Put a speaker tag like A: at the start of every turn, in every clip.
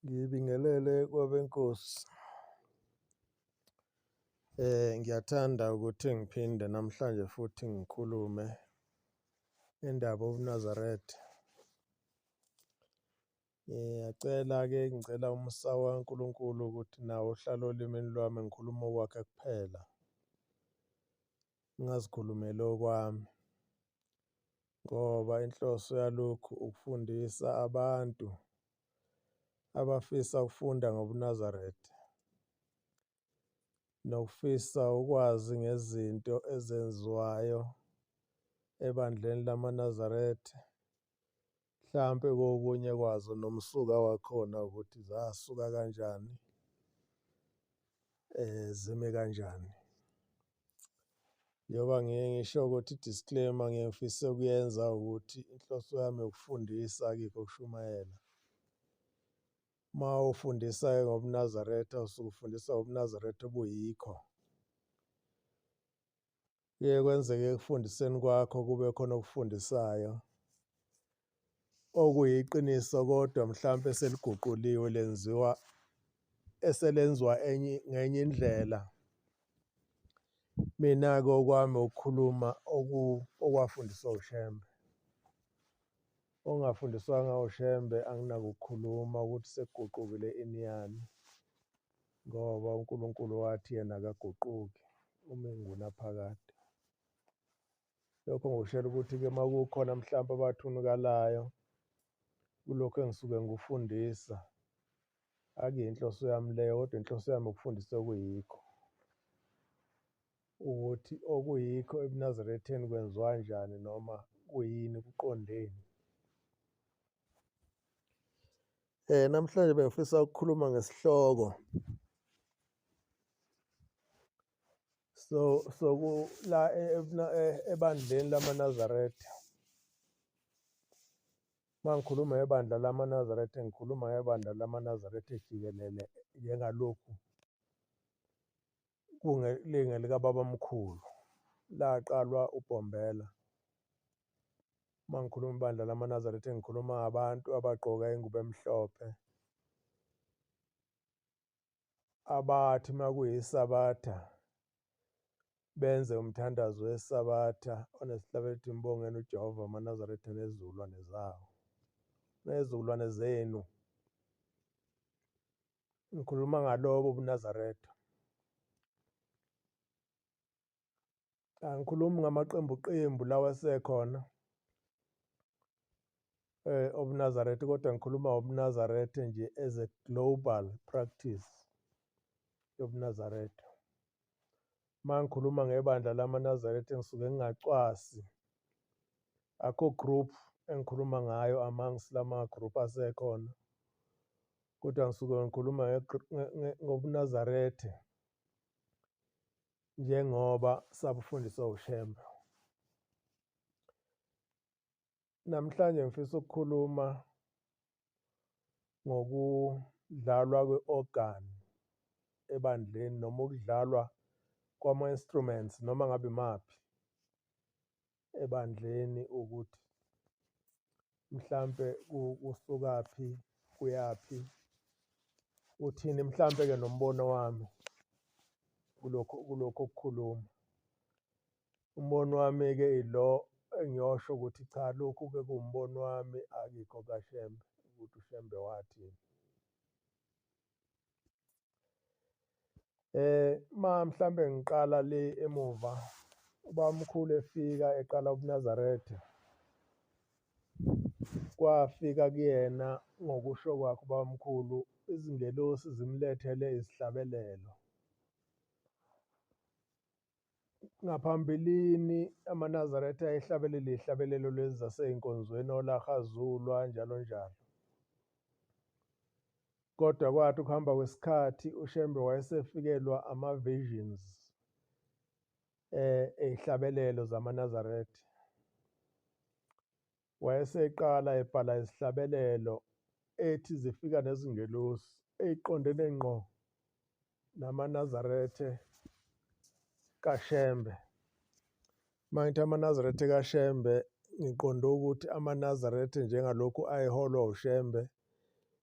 A: Ngibingelele kwabenkosi. Eh ngiyathanda ukuthi ngiphinde namhlanje futhi ngikhulume indaba uNazaret. Ngiyacela ke ngicela umsa waNkulunkulu ukuthi nawo uhlale olimini lwami ngikhuluma okwakhe kuphela. Ngingazikhulumeli okwami. Ngoba inhloso yalokhu ukufundisa abantu abafisa ukufunda ngobuNazaretha nokufisa ukwazi ngezinto ezenziwayo ebandleni lamaNazaretha mhlampe kokunye kwazo nomsuka wakhona ukuthi zasuka kanjani eh zime kanjani Njengoba ngiye ngisho ukuthi disclaimer ngiyengifisa ukuyenza ukuthi inhloso yami ukufundisa akikho ukushumayela. Uma ufundisa ngobuNazaretha usuke ufundisa ngobuNazaretha obuyikho. Kuye kwenzeke ekufundiseni kwakho kube khona okufundisayo okuyiqiniso kodwa mhlawumpe seliguquliwe lenziwa eselenziwa enye ngenye indlela. Mina-ke okwami ukukhuluma okwafundiswa uShembe. Ongafundiswanga uShembe anginakukhuluma ukuthi sekuguqukile ini yani ngoba uNkulunkulu wathi yena akaguquki uma engunaphakade. lokho ngikushela ukuthi-ke uma kukhona mhlawumpe abathunukalayo kulokhu engisuke ngikufundisa akuyinhloso yami leyo kodwa inhloso yami ukufundisa okuyikho ukuthi okuyikho ebunazaretheni kwenziwa njani noma kuyini kuqondeni Eh namhlanje bengifisa ukukhuluma ngesihloko so so la e, e, e, ebandleni lamaNazaretha mangikhuluma ngebandla lamaNazaretha ngikhuluma ngebandla lamaNazaretha ejikelele njengalokhu kungelinge likababamkhulu laqalwa uBhombela uma ngikhuluma ibandla lamaNazaretha ngikhuluma ngabantu abagqoka ingubo emhlophe abathi makuyisabatha benze umthandazo wesabatha onesihlabethi mbongeni uJehova amaNazaretha nezizukulwane zawo nezizukulwane zenu ngikhuluma ngalobo buNazaretha angikhulumi ngamaqembu qembu lawa sekhona eh obunazarethe kodwa ngikhuluma obunazarethe nje as a global practice yobunazaretha mangikhuluma ngebandla lamaNazaretha engisuke ngingacwasi akho group engikhuluma ngayo amongst lama group asekhona kodwa ngisuke ngikhuluma ngobuNazaretha njengoba sabufundiswa uShembe. Namhlanje ngifisa ukukhuluma ngokudlalwa kwe-organ ebandleni noma ukudlalwa kwama-instruments noma ngabe imaphi ebandleni ukuthi mhlampe kusukaphi kuyaphi uthini mhlampe ke nombono wami kulokho kulokho okukhuluma umbono wami ke ilo engiyosho ukuthi cha lokhu ke kuwumbono wami akikho kaShembe ukuthi uShembe wathini Eh ma mhlambe ngiqala le emuva ubamkhulu efika eqala ubuNazaretha kwafika kuyena ngokusho kwakhe ubamkhulu izingelosi zimlethele izihlabelelo. Ngaphambilini amaNazaretha ayehlabelela ihlabelelo lezi zasey'nkonzweni olaRhazulwa njalo njalo. Kodwa kwathi ukuhamba kwesikhathi uShembe wayesefikelwa ama-visions um ey'hlabelelo zamaNazaretha. Wayeseqala ebhala izihlabelelo ethi zifika nezingelosi eyiqondene ngqo namaNazaretha kaShembe. Uma ngithi amaNazaretha kaShembe ngiqonde ukuthi amaNazaretha njengalokhu ayeholwa uShembe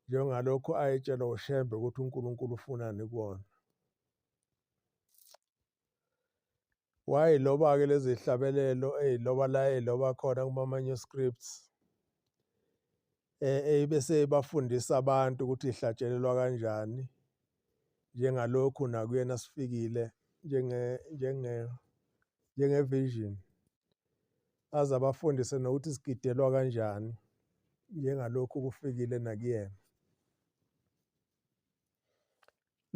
A: njengalokhu ayetshelwa uShembe ukuthi uNkulunkulu ufunani kuwona. wayiloba-ke lezi hlabelelo eyiloba la eyiloba khona kuma-manuscripts eh, eh, bese ibafundisa abantu ukuthi ihlatshelelwa kanjani njengalokhu nakuyena sifikile njenge njenge njengevision aze abafundise nokuthi sigidelwa kanjani njengalokhu kufikile nakuyena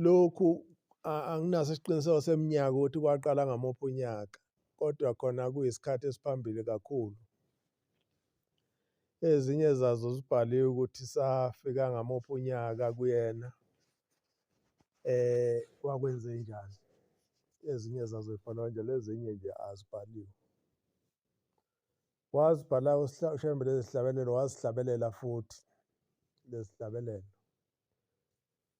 A: lokhu anginaso isiqiniseko seminyaka ukuthi kwaqala ngamuphi unyaka kodwa khona kuyisikhathi esiphambili kakhulu ezinye zazo zibhaliwe ukuthi safika ngamuphi unyaka kuyena eh kwakwenze njani ezinye zazo zibhalwa njalo ezinye nje azibhaliwe wazibhala ushembe lezihlabelelo wazihlabelela futhi lezihlabelelo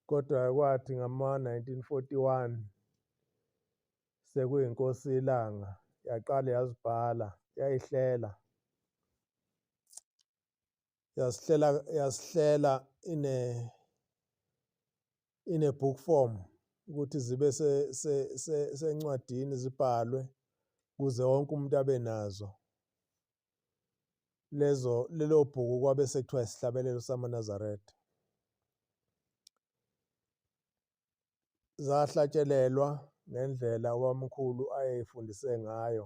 A: Kodwa kwathi ngama-1941 sekuyiNkosi iLanga yaqala yazibhala yayihlela yasihlela yasihlela ine ine book form ukuthi zibe sencwadini zibhalwe kuze wonke umuntu abe nazo lezo lelo bhuku kwabe sekuthiwa isihlabelelo samaNazaretha zahlatshelelwa ngendlela ubamkhulu ayeyifundise ngayo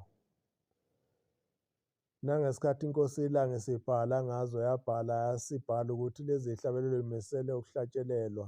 A: nangesikhathi inkosi ilanga isibhala ngazo yabhala yasibhala ukuthi lezi hlabelelo imisele ukuhlatshelelwa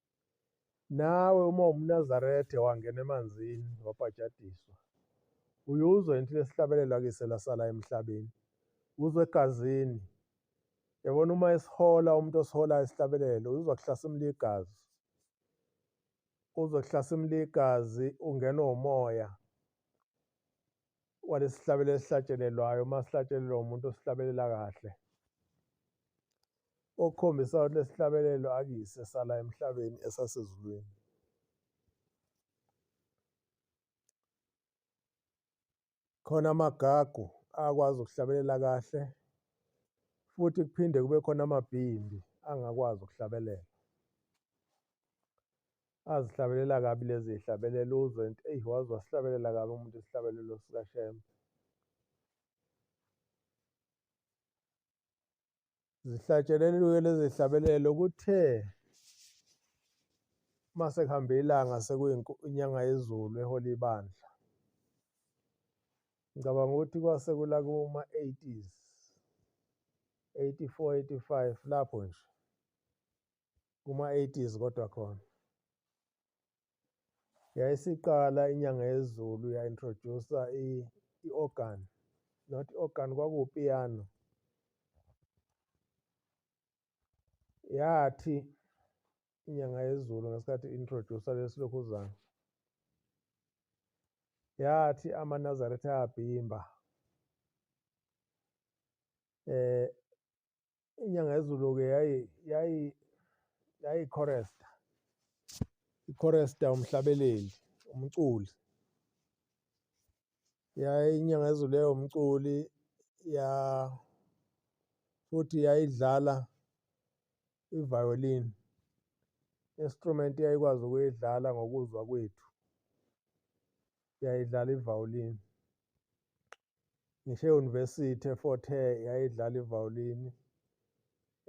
A: Nawe uma umNazaretha wangena emanzini wabhajadiswa, uye uzwe into lesihlabelelo akise lasala emhlabeni, uzwe egazini. Yabona uma esihola umuntu osiholayo isihlabelelo, uzwa kuhlasimula igazi. Uzwe kuhlasimula igazi, ungenwa umoya. walesihlabelo esihlatshelelwayo uma sihlatshelelwa umuntu osihlabelela kahle okukhombisa ukuthi lesihlabelelo akuyise sala emhlabeni esasezulwini khona amagagu akwazi ukuhlabelela kahle futhi kuphinde kube khona amabhimbi angakwazi ukuhlabelela azihlabelela kabi lezi zihlabelelo uzwe nti eyi waze wasihlabelela kabi umuntu isihlabelelo sikashembe zihlatsheleliwe lezi zihlabelelo kuthe uma sekuhambe ilanga sekuyinyanga yezulu ehola ibandla ngicabanga ukuthi kwase kula kuma-80s 84 85 lapho nje kuma-80s kodwa khona yayisiqala inyanga yezulu ya-introduce-a i-organ not i-organ kwakuwupiyano yathi inyanga yezulu ngesikhathi i-introduce-a lesi lokhuzana yathi amanazaretha ayabhimba eh inyanga yezulu-ke yayikhoresta ikhoresta umhlabeleli umculi inyanga yezulu yayomculi ya futhi yayidlala i-violin instrument eyayikwazi ukuyidlala ngokuzwa kwethu yayidlala i-violin ngisho e-university eFort Hare yayidlala ivawulini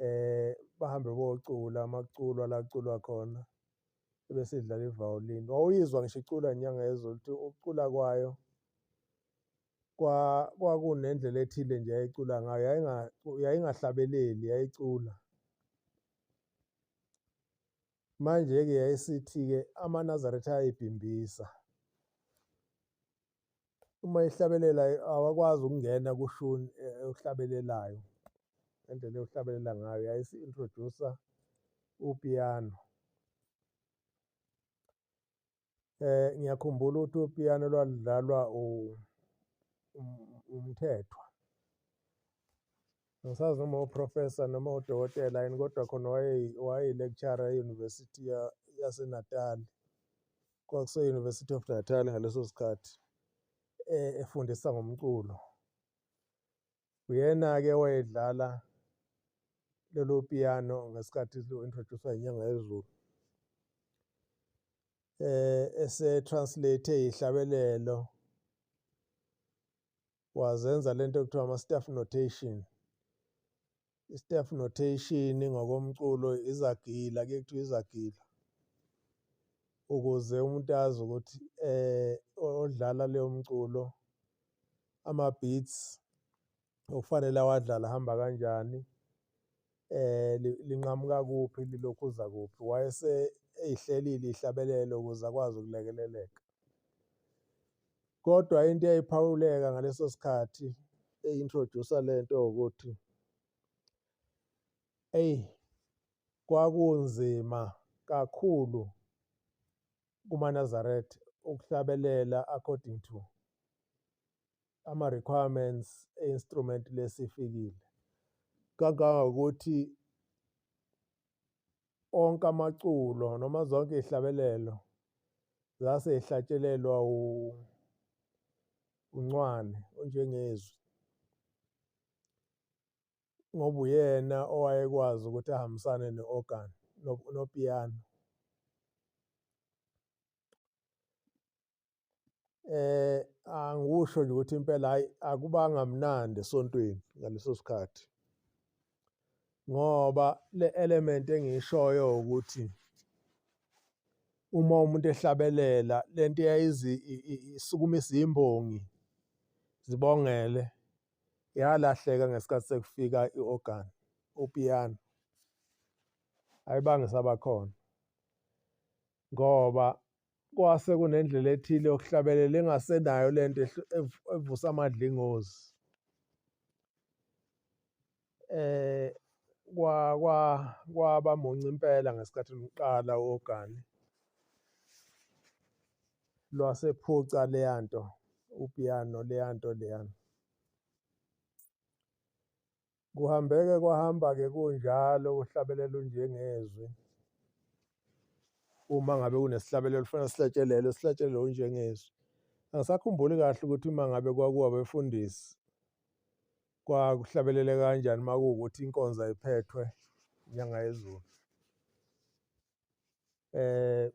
A: eh bahambe bocula amaculo alaculwa khona ebesidlala ivawulini wawuyizwa ngisho icula inyanga yezulu ukuthi ukucula kwayo kwakunendlela ethile nje yayicula ngayo yayingahlabeleli yayicula manje-ke yayisithi-ke amanazaretha ayibhimbisa uma ihlabelela awakwazi ukungena kushuni eyohlabelelayo eh, ngendlela eyohlabelela ngayo yayisi-introdusa upiyano eh ngiyakhumbula ukuthi upiyano lwadlalwa umthethwa ngisazi noma uprofessor noma udokotela yini kodwa khona wayeyi-lecturer e-university yasenatali kwakuse-University of Natal ngaleso sikhathi eh, efundisa ngomculo uyena-ke wayedlala lelo piano ngesikhathi lo-introducewa inyanga yezulu eh ese-translate ihlabelelo wazenza lento ekuthiwa ama staff notation i-staff notation ngokomculo izagila ke kuthiwa izagila ukuze umuntu azi ukuthi eh odlala leyo mculo ama beats okufanele awadlala hamba kanjani eh linqamuka kuphi lilokhu uza kuphi wayese eyihlelile ihlabelelo ukuze akwazi ukulekeleleka kodwa into eyayiphawuleka ngaleso sikhathi eyintroduce lento ukuthi eyi kwakunzima kakhulu kumaNazaretha ukuhlabelela according to ama requirements e instrument lesifikile kangangokuthi onke amaculo noma zonke ihlabelelo zase ihlatshelelwa u uncwane onjengezwi ngoba uyena owayekwazi ukuthi ahambisane ne-organ nopiyano eh angikusho nje ukuthi impela hayi akubanga mnandi esontweni ngaleso sikhathi ngoba le element engishoyo ukuthi uma umuntu ehlabelela lento eyayizi isukuma izimbongi zibongele yalahleka ngesikhathi sekufika i-organ upiyano ayibange sabakhona ngoba kwase kunendlela ethile yokuhlabelela engasenayo le nto evusa amadlingozi eh kwa kwa kwaba munci impela ngesikhathi luqala ogani lwasephuca leyanto upiano leyanto leyana Kuhambeke kwahamba-ke kunjalo uhlabelela unjengezwi. Uma ngabe kunesihlabelelo kufanele sihlatshelelwe, sihlatshelelwe unjengezwi. Angisakhumbuli kahle ukuthi uma ngabe kwakuwa befundisi kwakuhlabelele kanjani uma kuwukuthi inkonzo ayiphethwe inyanga yezulu. eh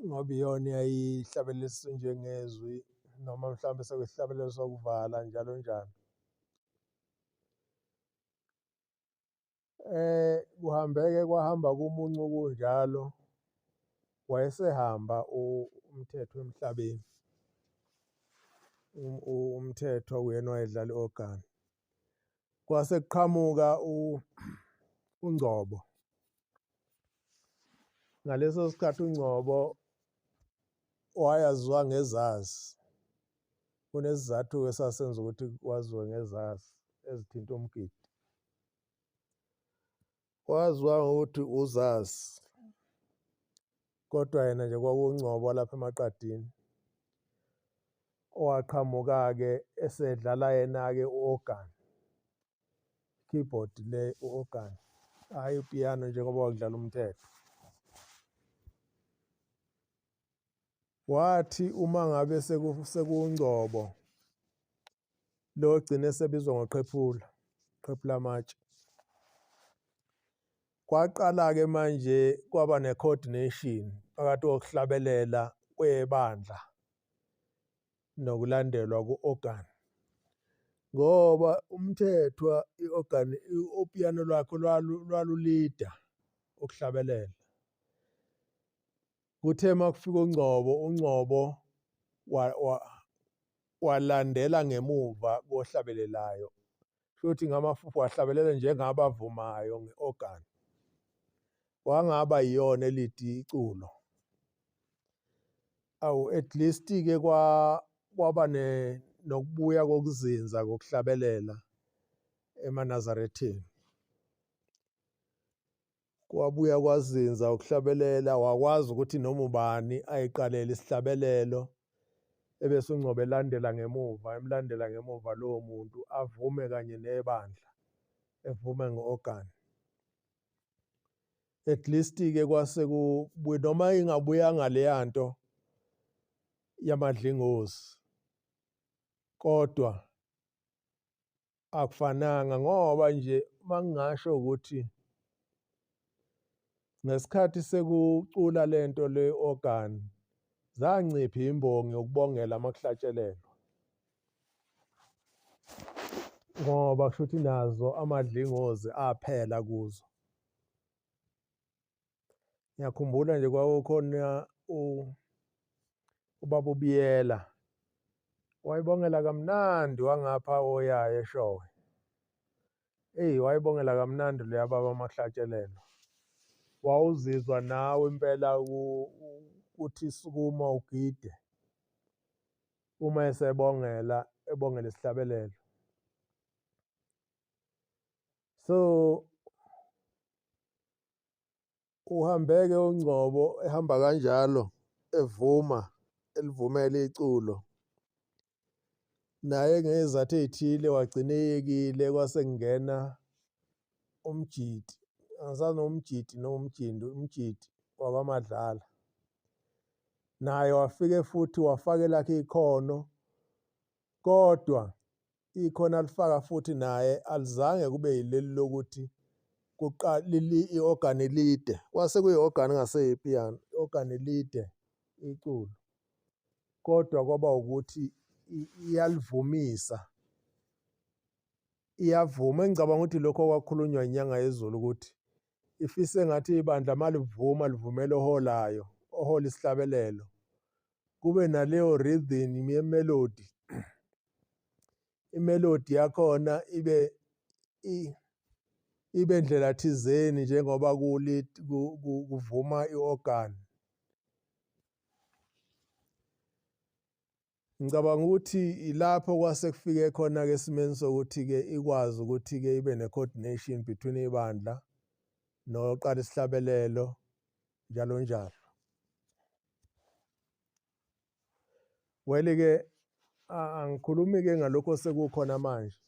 A: ngoba iyona eyayihlabelisa njengezwi noma mhlawumbe sekusihlabelelo sokuvala njalo njalo eh kuhambeke kwahamba kumuncu kunjalo wayesehamba umthetho emhlabeni umthetho uyena wayedlala i-organ kwase kuqhamuka uNgcobo ngaleso sikhathi uNgcobo wayaziwa ngezazi kunesizathu esasenza ukuthi kwaziwe ngezazi ezithinta umgidi wazwa ukuthi uzazi kodwa yena nje kwakungcobo lapha emaqadini owaqhamuka-ke esedlala yena-ke u-organ keyboard le u-organ hhayi upiyano njengoba wakudlala umthetho wathi uma ngabe sekungcobo lo ogcine esebizwa ngoqhephula qhephula amatshe kwaqala-ke manje kwaba ne-coordination phakathi kokuhlabelela kwebandla nokulandelwa ku-organ ngoba umthethwa i-organ upiyano lwakho lwalulida ukuhlabelela Kuthe uma kufika uNgcobo, uNgcobo walandela ngemuva kohlabelelayo futhi ngamafufu wahlabelela njengabavumayo nge-organ. Wangaba yiyona elidi iculo. Awu at least-ke kwa kwaba ne nokubuya kokuzinza kokuhlabelela emanazarethini. kwabuya kwazinza ukuhlabelela wakwazi ukuthi noma ubani ayiqalele isihlabelelo ebese ungcobe elandela ngemuva emlandela ngemuva lowo muntu avume kanye nebandla evume ngo-organ at least-ke kwase kubuye noma ingabuyanga leya nto yamadlingozi kodwa akufananga ngoba nje uma ngingasho ukuthi ngesikhathi sekucula le nto le organ zanciphi imbongi yokubongela amakuhlatshelelwa ngoba kusho ukuthi nazo amadlingozi aphela kuzo ngiyakhumbula nje kwakukhona ubaba ubiyela wayibongela kamnandi wangapha oyayo eshowe eyi wayibongela kamnandi leya baba amahlatshelelo wawuzizwa nawe impela ukuthi sukuma ugide uma esebongela ebongela isihlabelelo so uhambeke ungcobo ehamba kanjalo evuma elivumela iculo naye ngezathu ey'thile wagcina eyekile kwase kungena umjidi angisana umjidi nomjindi umjidi wakwamadlala naye wafike futhi wafake lakhe ikhono kodwa ikhona alifaka futhi naye alizange kube yileli lokuthi i-ogani lide kwase kuyi-ogani ngaseyipiyano i-ogani lide iculo kodwa kwaba ukuthi iyalivumisa iyavuma engicabanga ukuthi lokho kwakhulunywa inyanga yezulu ukuthi ifise ngathi ibandla malivuma livumela oholayo ohola isihlabelelo kube naleyo rhythm yemelody imelody yakhona ibe ibe ndlela thizeni njengoba kuvuma i-organ ngicabanga ukuthi ilapho kwase kufike khona-ke esimeni sokuthi-ke ikwazi ukuthi-ke ibe ne-coordination between ibandla noqala isihlabelelo njalo njalo wele-ke angikhulumi ke ngalokho sekukhona manje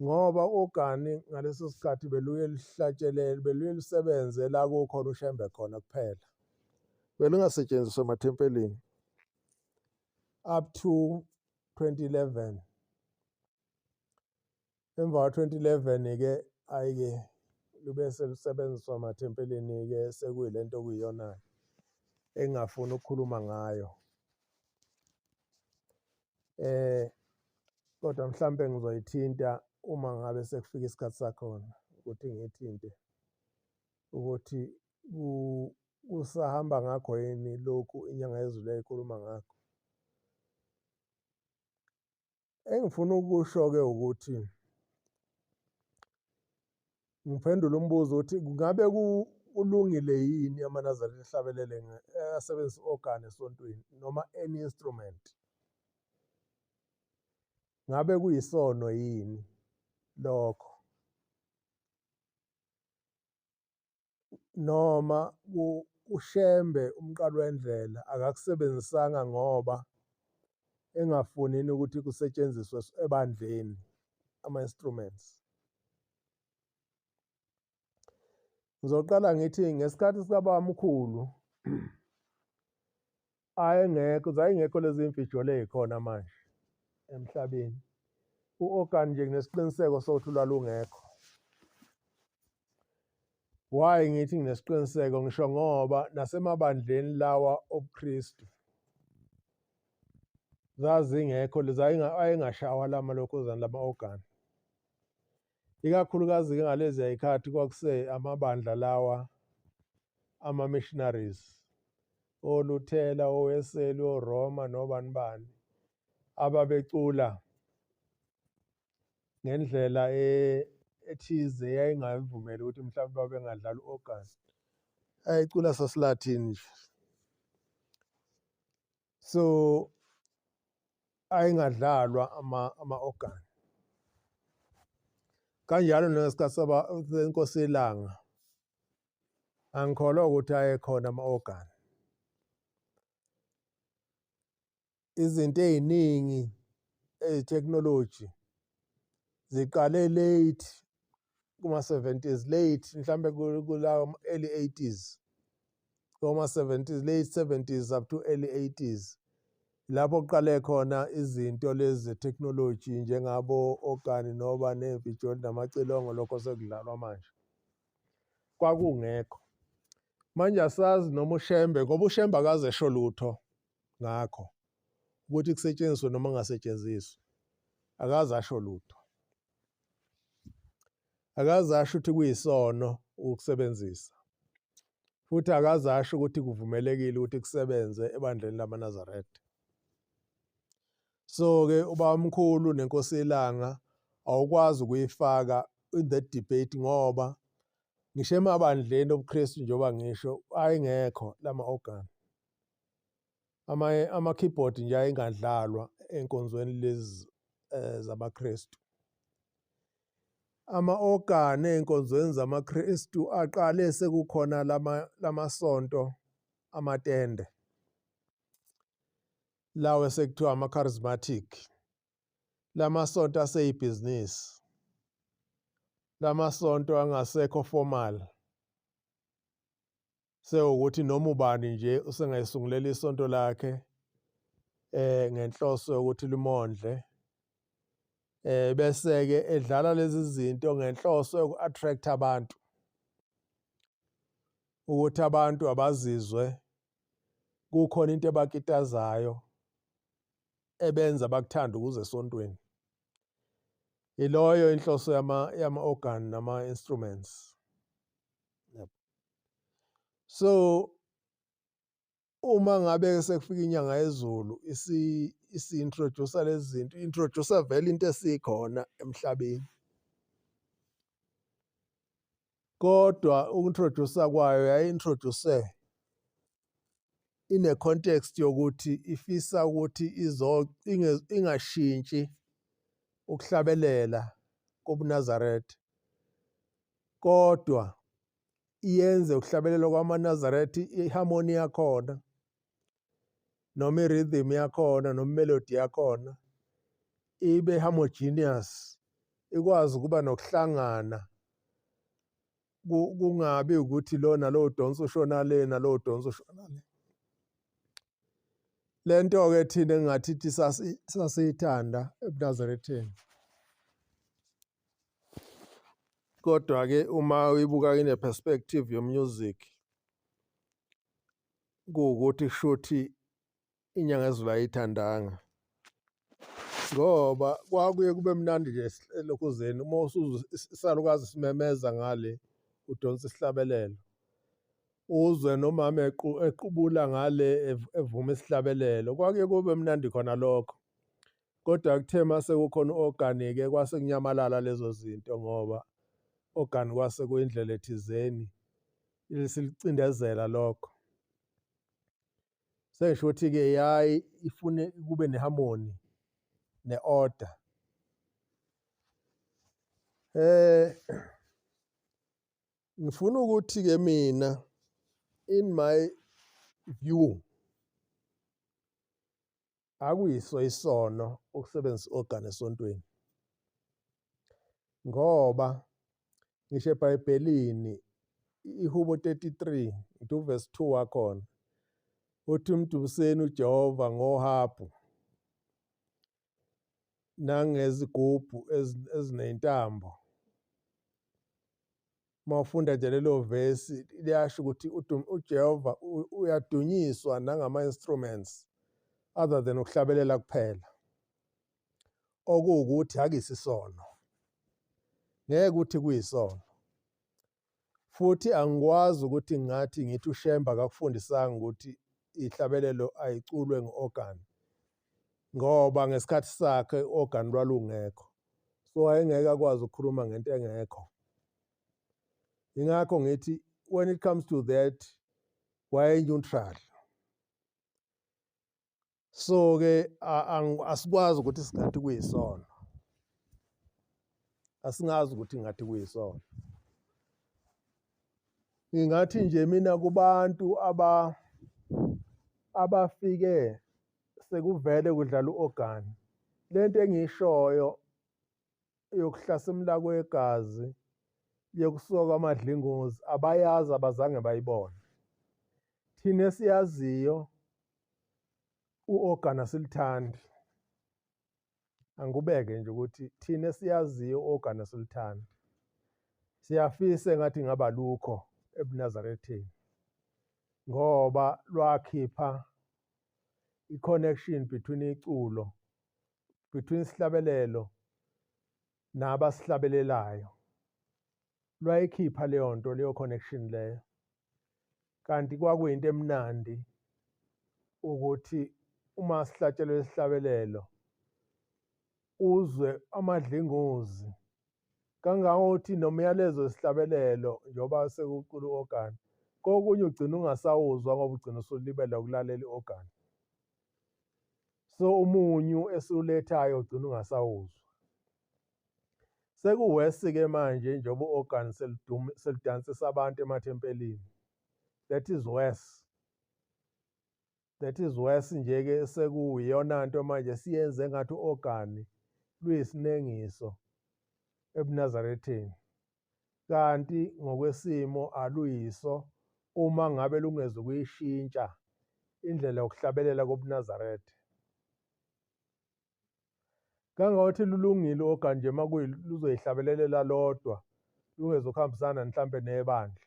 A: ngoba ogani ngaleso sikhathi beluye lihlatshelele beluye lisebenze la kukhona ushembe khona kuphela belingasetshenziswa emathempelini up to 2011 Emva ka-2011-ke hhayi-ke lube selusebenziswa emathempelini-ke sekuyile nto okuyiyona-ke engingafuni ukukhuluma ngayo. Eh kodwa mhlampe ngizoyithinta uma ngabe sekufika isikhathi sakhona ukuthi ngiyithinte ukuthi kusahamba ngakho yini lokhu inyanga yezulu eyikhuluma ngakho. engifuna ukusho-ke ukuthi ngiphendule umbuzo ukuthi kungabe kulungile yini amanazarene ehlabelele asebenzisa i-organ esontweni noma any instrument ngabe kuyisono yini lokho noma uShembe umqalwendlela akakusebenzisanga ngoba engafunini ukuthi kusetshenziswe ebandleni ama-instruments. Ngizoqala ngithi ngesikhathi sikabamkhulu Hhayi engekho, zayingekho lezi imfijolo ey'khona manje emhlabeni. U-Okan nje nginesiqiniseko sokuthi ulwalungekho. Why ngithi nginesiqiniseko ngisho ngoba nasemabandleni lawa obuKristu zazingekho lezi ayengashawa lama lokhuzana lama-ogani. ikakhulukazi-ke ngaleziya yikhathi kwakuse amabandla lawa ama-missionaries oluthela oweseli oroma nobani bani ababecula ngendlela e, ethize yayingayivumeli ukuthi mhlawumbe babengadlali u-organ ayicula sasilathini nje so ayingadlalwa ama ama organ kanjalo nesikasaba senkosi elanga angikholwa ukuthi ayekhona ama organ izinto eziningi ezitechnology ziqale late kuma-70s late mhlawumbe kula early 80s koma-70s late 70s up to early 80s lapho kuqale khona izinto lezi zetheknoloji njengabo ogani noba nevijoli namacilongo lokho sekudlalwa manje kwakungekho manje asazi noma ushembe ngoba ushembe akaze esho lutho ngakho ukuthi kusetshenziswe noma kungasetshenziswe akaze asho lutho akaze asho ukuthi kuyisono ukusebenzisa futhi akaze asho ukuthi kuvumelekile ukuthi kusebenze ebandleni lamaNazaretha so ke ubamkhulu nenkosi ilanga awukwazi ukuyifaka in that debate ngoba ngisho emabandleni obuKristu njengoba ngisho ayengekho lama organ ama ama keyboard nje ayingadlalwa enkonzweni lezi eh, zabaKristu ama organ enkonzweni zamaKristu aqale sekukhona lama lamasonto amatende lawe sekuthiwa ama charismatic lamasonto aseyibhizinisi lamasonto angasekho formal sewukuthi noma ubani nje usengayisungulela isonto lakhe eh ngenhloso yokuthi limondle eh bese ke edlala lezi zinto ngenhloso yoku-attract abantu ukuthi abantu abazizwe kukhona into ebakitazayo ebenza bakuthanda ukuze esontweni iloyo inhloso yama yama organ nama instruments so uma ngabe sekufika inyanga yezulu isi-introducer lezi zinto i-introducer vele into esikhona emhlabeni kodwa uku-introducer kwayo yayi-introduce ine-context yokuthi ifisa ukuthi ingashintshi ukuhlabelela kobunazaretha kodwa iyenze ukuhlabelelwa kwamanazaretha iharmoni yakhona noma i-rhythm yakhona noma imelodi yakhona ibe homogeneous ikwazi ukuba nokuhlangana kungabi ukuthi lona lowo donsa ushona le nalowo donsa ushona le le nto-ke thina engingathi sasiyithanda ebunazaretheni Kodwa-ke uma uyibuka ine perspective yo music kuwukuthi kushuthi inyanga ezulu ayithandanga ngoba kwakuye kube mnandi nje elokhuzeni uma usuza isalukazi simemeza ngale udonsa isihlabelelo uzwe nomama equbula ngale evuma isihlabelelo kwakuye kube mnandi khona lokho Kodwa kuthe mase kukhona u-organic kwase kunyamalala lezo zinto ngoba organic kwase kuyindlela ethizeni silicindezela lokho. Sengisho ukuthi-ke yayi ifune kube ne-harmony ne-order. Eh ngifuna ukuthi-ke mina in my view akuyiso isono ukusebenzisa i-organ esontweni ngoba ngisho ebhayibhelini ihubo 33 ngithi uvesi 2 wakhona uthi umdubuseni ujehova ngohabhu nangezigubhu eziney'ntambo uma ufunda nje lelo vesi liyasho ukuthi ujehova uyadunyiswa nangama-instruments other than ukuhlabelela kuphela okuwukuthi akisisono ngeke ukuthi kuyisono futhi angikwazi ukuthi ngathi ngithi ushemba kakufundisanga ukuthi ihlabelelo ayiculwe ngu-organ ngoba ngesikhathi sakhe i-organ lwalungekho so wayengeke akwazi ukukhuluma ngento engekho ingakho ngithi when it comes to that wayeneutral so-ke asikwazi ukuthi singathi kuyisono asingazi ukuthi ngathi kuyisona ngingathi nje mina kubantu aba abafike sekuvele kudlala u-ogani le nto engiyishoyo yokuhlasimula kwegazi yokusoka amadlingozi abayazi abazange bayibone thina esiyaziyo u-ogani asilithandi angikubeke nje ukuthi thina siyaziyo ogana sultan siyafisa ngathi ngaba lukho ebunazaretheni ngoba lwakhipha i-connection between iculo between isihlabelelo nabasihlabelelayo lwayikhipha leyo nto leyo connection leyo kanti kwakuyinto emnandi ukuthi uma sihlatshelwe isihlabelelo uzwe amadlingozi kangangokuthi nomyalezo wesihlabelelo njengoba sekucula u-ogani kokunye ugcina ungasawuzwa ngoba ugcina usulibele ukulalela i-ogani so umunyu esiwulethayo ugcina ungasawuzwa sekuwesi ke manje njengoba u-organ selidansisa abantu emathempelini that is worse that is worse nje ke sekuyiyona nto manje siyenze ngathi u-organ luyisinengiso ebunazaretheni kanti ngokwesimo aluyiso uma ngabe lungeze ukuyishintsha indlela yokuhlabelela kobuNazaretha. Kangangokuthi lulungile oganje uma luzoyihlabelelela lodwa lungezukuhambisana mhlampe nebandla.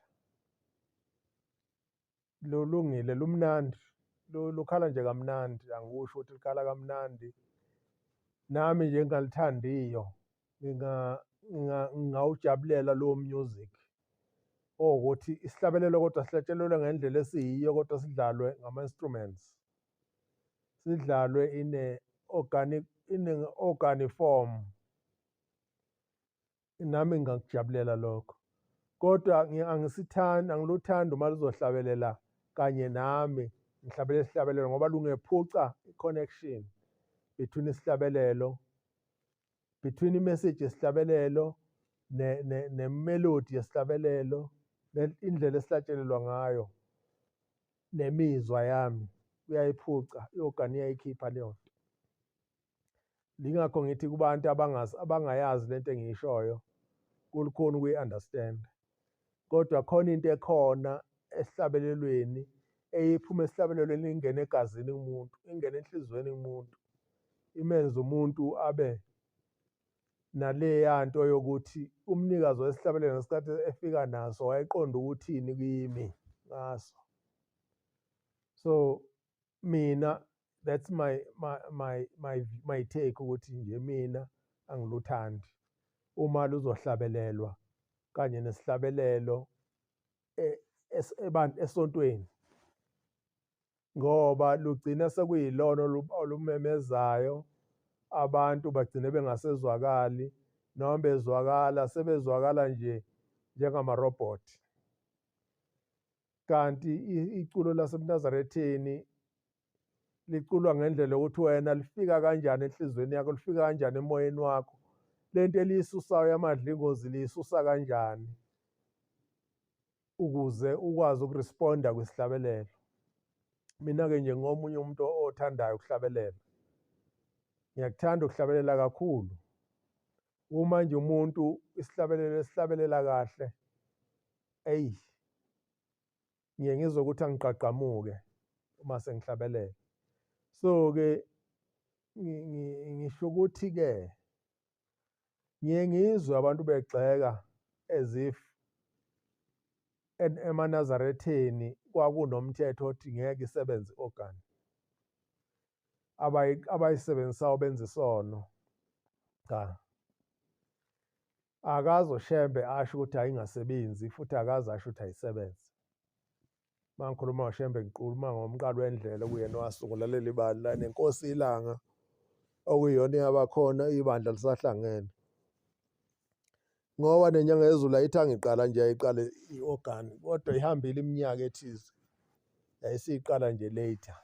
A: lulungile lumnandi lukhala nje kamnandi angikusho ukuthi likhala kamnandi nami nje ngingalithandiyo ngingawujabulela lowo music owukuthi isihlabelelo kodwa sihlatshelelwe ngendlela esiyiyo kodwa sidlalwe ngama-instruments sidlalwe ine-organic ine-organi form nami ngingakujabulela lokho kodwa angisithandi angiluthandi uma luzohlabelela kanye nami ngihlabele isihlabelelo ngoba lungephuca i-connection between isihlabelelo between imessage yesihlabelelo nemelodi yesihlabelelo indlela esihlatshelelwa ngayo nemizwa yami uyayiphuca i-ogani iyayikhipha leyo nto Lingakho ngithi kubantu abangazi abangayazi lento engiyishoyo kulukhona ukuyi-understand. Kodwa khona into ekhona esihlabelelweni eyiphuma esihlabelelweni ingena egazini kumuntu, ingena enhliziyweni kumuntu. Imenze umuntu abe naleya nto yokuthi umnikazi wesihlabelelo ngesikhathi efika naso wayeqonda ukuthini kimi ngaso. So mina that's my my my my, my take ukuthi nje mina angiluthandi uma luzohlabelelwa kanye nesihlabelelo e, esontweni ngoba lugcina sekuyilona olumemezayo abantu bagcine bengasezwakali noma bezwakala sebezwakala nje njengamarobhothi kanti iculo lasemnazaretheni liculwa ngendlela yokuthi wena lifika kanjani enhliziyweni yakho lifika kanjani emoyeni wakho le nto eliyisusayo yamadlingozi liyisusa kanjani ukuze ukwazi ukuresponda kwisihlabelelo mina-ke nje ngomunye umuntu othandayo ukuhlabelela ngiyakuthanda ukuhlabelela kakhulu uma nje umuntu isihlabelelo esihlabelela kahle eyi ngiye ngizwe ukuthi angigqagqamuke uma sengihlabelela so-ke ngisho ukuthi-ke ngiye ngizwe abantu begxeka as if emanazaretheni kwakunomthetho othi ngeke isebenze i-organ abayisebenzisayo benza isono cha akazo shembe asho ukuthi ayingasebenzi futhi akaze asho ukuthi ayisebenze mangikhuluma ngoshembe ngiquluma ngomqalo wendlela okuyena owasungula leli bandla nenkosi ilanga okuyiyona eyabakhona ibandla lisahlangene ngoba nenyanga yezulu ayithanga iqala nje yayiqale i-organ kodwa ihambile iminyaka ethize yayisiyiqala nje later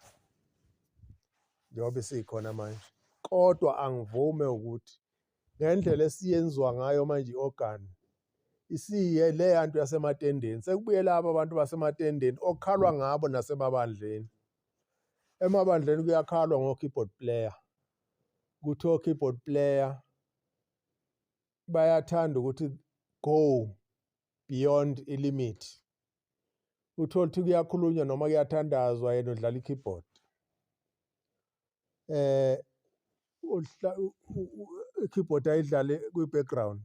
A: njengoba isikhona manje kodwa angivume ukuthi ngendlela esiyenziwa ngayo manje i-organ isiye le yantu yasematendeni sekubuye laba abantu basematendeni okukhalwa ngabo nasemabandleni emabandleni kuyakhalwa ngo-keyboard player kuthiwa o-keyboard player bayathanda ukuthi go beyond ilimit uthole ukuthi kuyakhulunywa noma kuyathandazwa yena udlala i-keyboard eh i-keyboard ayidlale kwi-background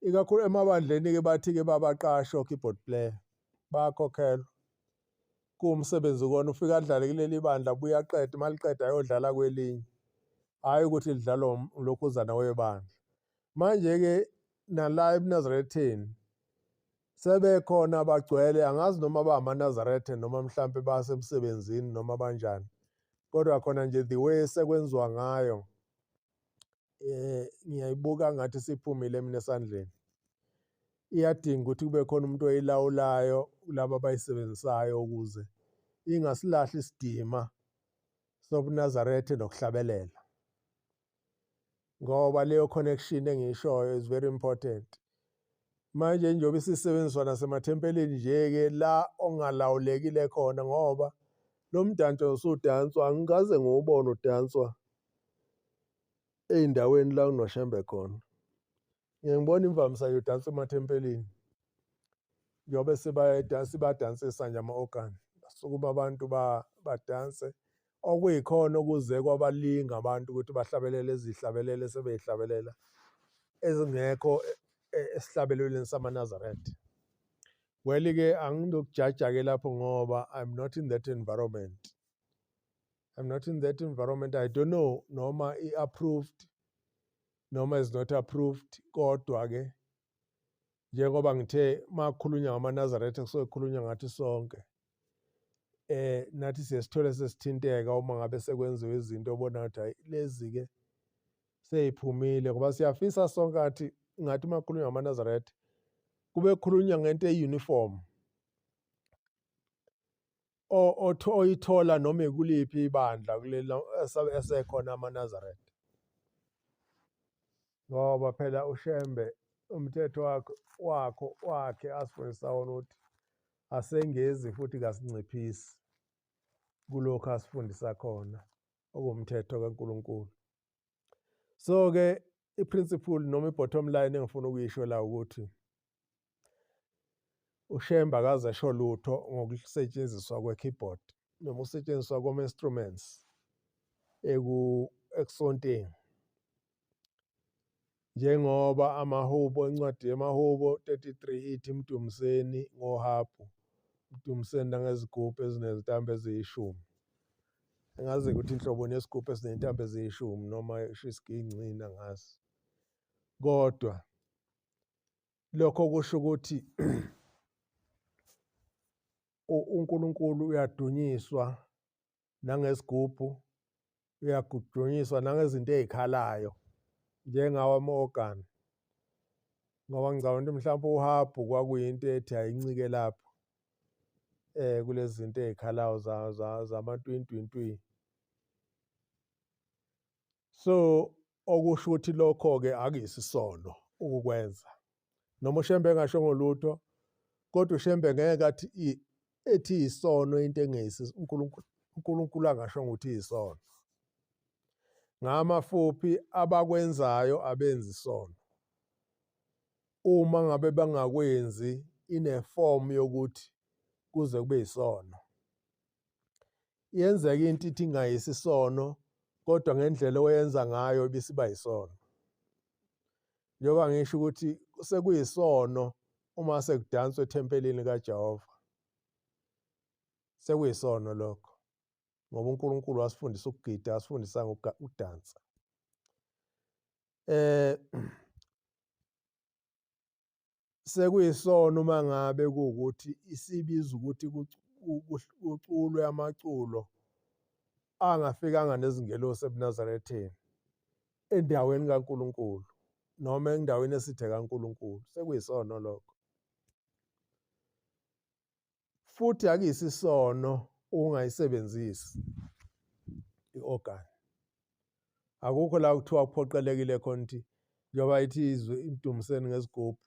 A: ikakhulu emabandleni-ke bathi-ke babaqashe o-keyboard player bayakhokhelwa kuwumsebenzi kona ufike adlale kuleli bandla buye aqede uma liqeda ayodlala kwelinye hhayi ukuthi lidlalwa um, lokhuzana webandla manje-ke nala ebunazaretheni sebekhona bagcwele angazi noma bamanazarethe noma mhlampe basemsebenzini noma banjani kodwa khona nje the way sekwenziwa ngayo eh ngiyayibuka ngathi siphumile mina esandleni iyadinga ukuthi kube khona umuntu oyilawulayo laba abayisebenzisayo ukuze ingasilahli isidima sobunazarethe nokuhlabelela ngoba leyo connection engishoyo is very important manje njengoba isisebenziswa nasemathempelini nje-ke la ongalawulekile khona ngoba lo mdanso usudanswa angikaze ngiwubone udanswa ey'ndaweni la kunoshembe khona ngeke ngibona imvamisa yodansa emathempelini njengoba sibadansa ibadansisa nje ama-ogani basukuma abantu badanse okuyikhona okuze kwabalinga abantu ukuthi bahlabelele izihlabelele sebeyihlabelela ezingekho e-, e-, esihlabelelweni samanazaretha well-ke angizokujaja-ke lapho ngoba i'm not in that environment I'm not in that environment I don't know noma i approved noma is not approved kodwa ke njengoba ngithe makhulunywa ngamaNazaretha kusuke kukhulunywa ngathi sonke eh nathi siyesithole sesithinteka uma ngabe sekwenziwe izinto obona ukuthi hayi lezi ke seyiphumile ngoba siyafisa sonke athi ngathi makhulunywa ngamaNazaretha kube khulunywa ngento euniform oyithola noma ikuliphi ibandla kulelo esekhona amaNazaretha ngoba phela uShembe umthetho wakho wakho wakhe asifundisa wona ukuthi asengezi futhi kasinciphisi kulokho asifundisa khona okumthetho kaNkuluNkulu so ke i-principle noma i-bottom line engifuna ukuyisho la ukuthi ushemba akaze esho lutho ngokusetshenziswa kwe-keyboard noma usetshenziswa koma-instruments eku-esonteni Njengoba amahubo encwadi yamahubo 33 ithi mdumiseni ngohabhu, mdumiseni nangezigubhu ezinezintambo eziyishumi. Engazi ukuthi inhlobo nesigubhu esinezintambo eziyishumi noma isho isigincinci angazi. Kodwa lokho kusho ukuthi uNkulunkulu uyadunyiswa nangesigubhu uyagudunyiswa nangezinto ezikhalayo njengawo ama-organ ngoba ngicabanga ukuthi mhlawumbe uhabhu kwakuyinto ethi ayincike lapho eh kulezi zinto ezikhalayo zamatwintwintwi so okusho ukuthi lokho ke akuyisisono ukukwenza noma ushembe engasho ngolutho kodwa ushembe ngeke athi ethi isono into engeyisi uNkulunkulu uNkulunkulu angasho ukuthi isono ngamafuphi abakwenzayo abenzi isono uma ngabe bangakwenzi ineform yokuthi kuze kube isono yenzeka into ithi ingayisi isono kodwa ngendlela oyenza ngayo ibisiba yisono njengoba ngisho ukuthi sekuyisono uma sekudanswa ethempelini kaJehova sekuyisono lokho ngoba uNkulunkulu wasifundisa ukugida asifundisa ngokudansa eh sekuyisona uma ngabe kuwukuthi isibiza ukuthi kuculwe amaculo angafikanga nezingelosi ebunazaretheni endaweni kaNkulunkulu noma endaweni esithe kaNkulunkulu sekuyisona lokho futhi akuyisisono ukungayisebenzisi i-organ akukho la kuthiwa kuphoqelekile khona ukuthi njengoba ithi izwe imdumiseni ngesigubhu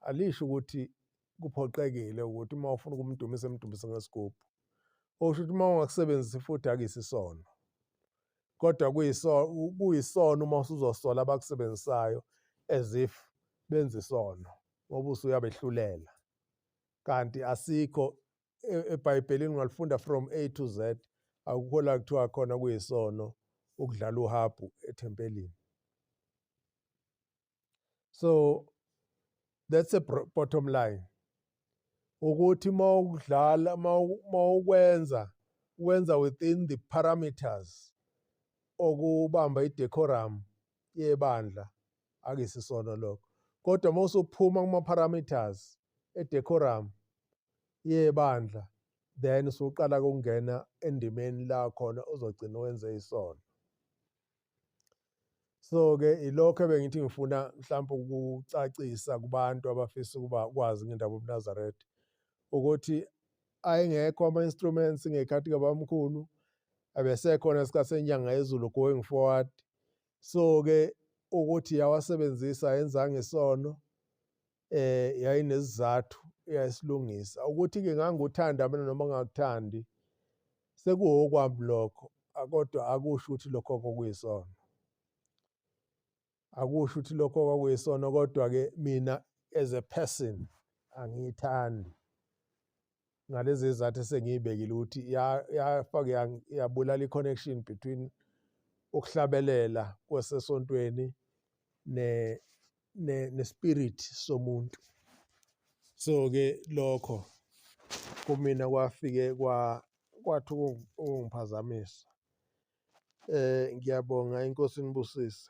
A: alisho ukuthi kuphoqekile ukuthi uma ufuna ukumdumisa emdumise ngesigubhu okusho ukuthi uma ungakusebenzisi futhi akuyisisono kodwa kuyisono uma usuzosola abakusebenzisayo as if benza isono ngoba usuyabehlulela kanti asikho e-, ebhayibhelini ungalifunda from a to z akukho la kuthiwa khona kuyisono ukudlala uhabhu ethempelini so that's a bottom line ukuthi mawudlala mawukwenza wenza within the parameters okubamba idecorum yebandla akuyisisona lokho kodwa uma usuphuma kuma-parameters edecorum yebandla then usuqala kungena endimeni la khona uzogcina wenze isono so-ke ilokho ebengithi ngifuna mhlawumpe ukucacisa kubantu abafisa ukuba kwazi ngendaba yobunazaretha ukuthi ayengekho ama-instruments ngekhathi kabamkhulu abesekhona sikasenyanga yezulu going forward so ke ukuthi yawasebenzisa yenzanga isono eh yayinezizathu yayisilungisa ukuthi ke nganguthanda mina noma ngakuthandi sekuwokwami lokho kodwa akusho ukuthi lokho kokuyisona akusho ukuthi lokho kwakuyisona kodwa ke mina as a person angiyithandi ngalezi zizathu esengiyibekile ukuthi yafake yabulala i-connection between ukuhlabelela kwasesontweni ne ne nespirit somuntu so ke lokho kumina kwafike kwa kwathi ukungiphazamisa eh ngiyabonga inkosi inibusise